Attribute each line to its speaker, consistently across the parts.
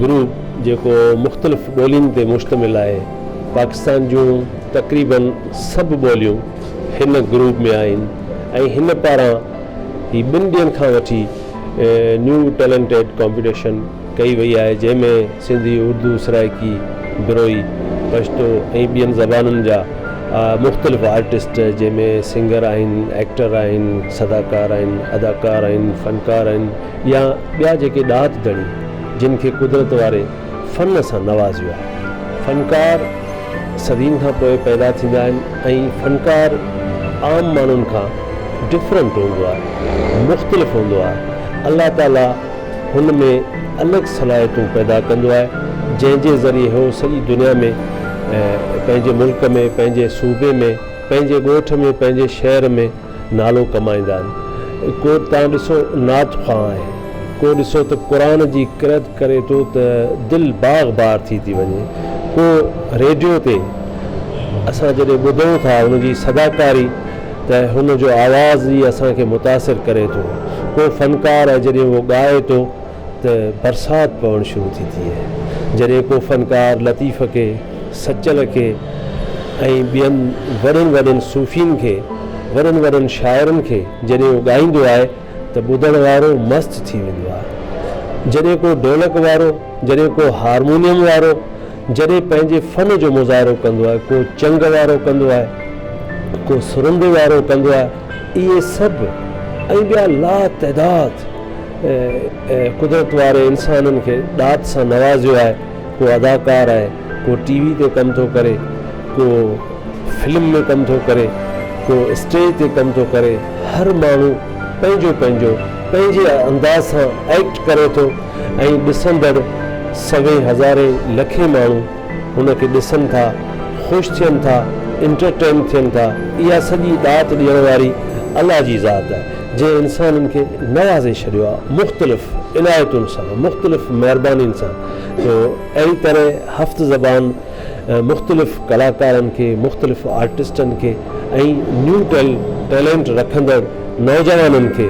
Speaker 1: Group جيڪو مختلف ٻولين تي مشتمل آهي. پاڪستان جون تقريبن سڀ ٻوليون هن گروپ ۾ آهن ۽ هن پاران هي ٻن ڏينهن کان وٺي نيو ٽيلنٽيڊ ڪامپيٽيشن ڪئي وئي آهي جنهن ۾ سنڌي، اردو، سرائيڪي، بروهي، پشتو ۽ ٻين زبانن جا مختلف آرٽسٽ جنهن ۾ سنگر آهن، ايڪٽر آهن، صداڪار آهن، اداڪار آهن، فنڪار آهن. يا ٻيا جيڪي ڏات ڌڻي جن کي قدرت واري فن سان نوازيو آهي. فنڪار صدين کان پوء پيدا ٿيندا آهن ۽ فنڪار عام ماڻهن کان ڊفرنٽ هوندو آهي، مختلف هوندو آهي. الله تعاليٰ هن ۾ الڳ صلاحيتون پيدا ڪندو آهي جنهن جي ذريعي هو سڄي دنيا ۾ پنهنجي ملڪ ۾ پنهنجي صوبي ۾ پنهنجي ڳوٺ ۾ پنهنجي شهر ۾. نالو ڪمائيندا آهن. ڪو تان ڏسو نعت خوان آهي، ڪو ڏسو ته قرآن جي قرئت ڪري ٿو ته دل باغ بار ٿي ٿي وڃي، ڪو ريڊيو تي اسان جڏهن ٻڌون ٿا ان جي صداڪاري ته هن جو آواز ئي اسان کي متاثر ڪري ٿو، ڪو فنڪار آهي جڏهن اهو ڳائي ٿو. ته برسات پوڻ شروع ٿي ٿئي. جڏهن ڪو فنڪار لطيف کي، سچل کي ۽ ٻين وڏن وڏن صوفين کي، وڏن وڏن شاعرن کي جڏهن اهو ڳائيندو آهي ته ٻڌڻ وارو مست ٿي ويندو آهي. جڏهن ڪو ڍولڪ وارو، جڏهن ڪو هارمونيم وارو، جڏهن پنهنجي فن جو مظاهرو ڪندو آهي، ڪو چنگ وارو ڪندو آهي، ڪو سرندي وارو ڪندو آهي، اهي سڀ ۽ ٻيا لاتعداد ۽ قدرت واري انسانن کي ڏات سان نوازيو آهي ڪو اداڪار آهي ڪو ٽي وي تي ڪم ٿو ڪري ڪو فلم ۾ ڪم ٿو ڪري ڪو اسٽيج تي ڪم ٿو ڪري هر ماڻهو پنهنجو پنهنجو پنهنجي انداز سان ايڪٽ ڪري ٿو ۽ ڏسندڙ سوين هزارين لکين ماڻهو هن کي ڏسن ٿا، خوش ٿين ٿا، انٽرٽين ٿين ٿا، اها سڄي ڏات ڏيڻ واري الله جي ذات آهي، جنهن انسانن کي نوازي ڇڏيو آهي مختلف عنايتن سان، مختلف مهربانين سان، جو اهڙي طرح هفت زبان مختلف ڪلاڪارن کي، مختلف آرٽسٽن کي ۽ نيو ٽيلنٽ رکندڙ نوجوانن کي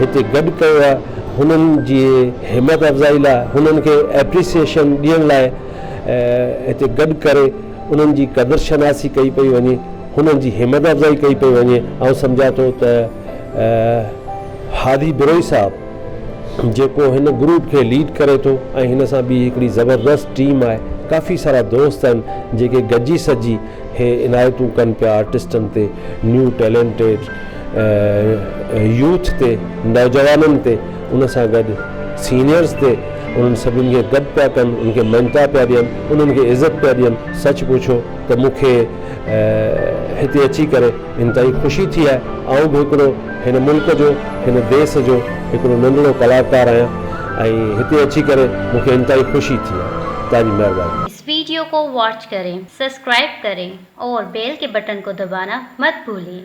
Speaker 1: هتي گڏ ڪيو آهي، هنن جي همت افزائي لاء، هنن کي اپريسيئيشن ڏيڻ لاء. هتي گڏ ڪري انهن جي قدر شناسي ڪئي پئي وڃي هنن جي همت افزائي ڪئي پئي وڃي آئون سمجهان ٿو ته هادي بروهي صاحب جيڪو هن گروپ کي ليڊ ڪري ٿو ۽ هن سان ٻي هڪڙي زبردست ٽيم آهي ڪافي سارا دوست آهن جيڪي گڏجي سڏجي هي عنايتون ڪن پيا آرٽسٽن تي نيو ٽيلنٽيڊ يوٿ تي نوجوانن تي ان سان گڏ سينيئرز تي انهن سڀني کي گڏ پيا ڪن، انهن کي مڃتا پيا ڏين، انهن کي عزت پيا ڏين. سچ پڇو ته مون کي هتي اچي ڪري انتهائي خوشي ٿي آهي. آئون به هڪڙو هن ملڪ جو، هن ديس جو هڪڙو ننڍڙو ڪلاڪار آهيان ۽ هتي اچي ڪري مون کي انتهائي خوشي ٿي آهي. توهان جي مهرباني. اس ويڊيو ڪو
Speaker 2: واچ ڪرين سسڪرائب ڪرين اور بيل ڪي بٽن ڪو دبانا مت بھولين.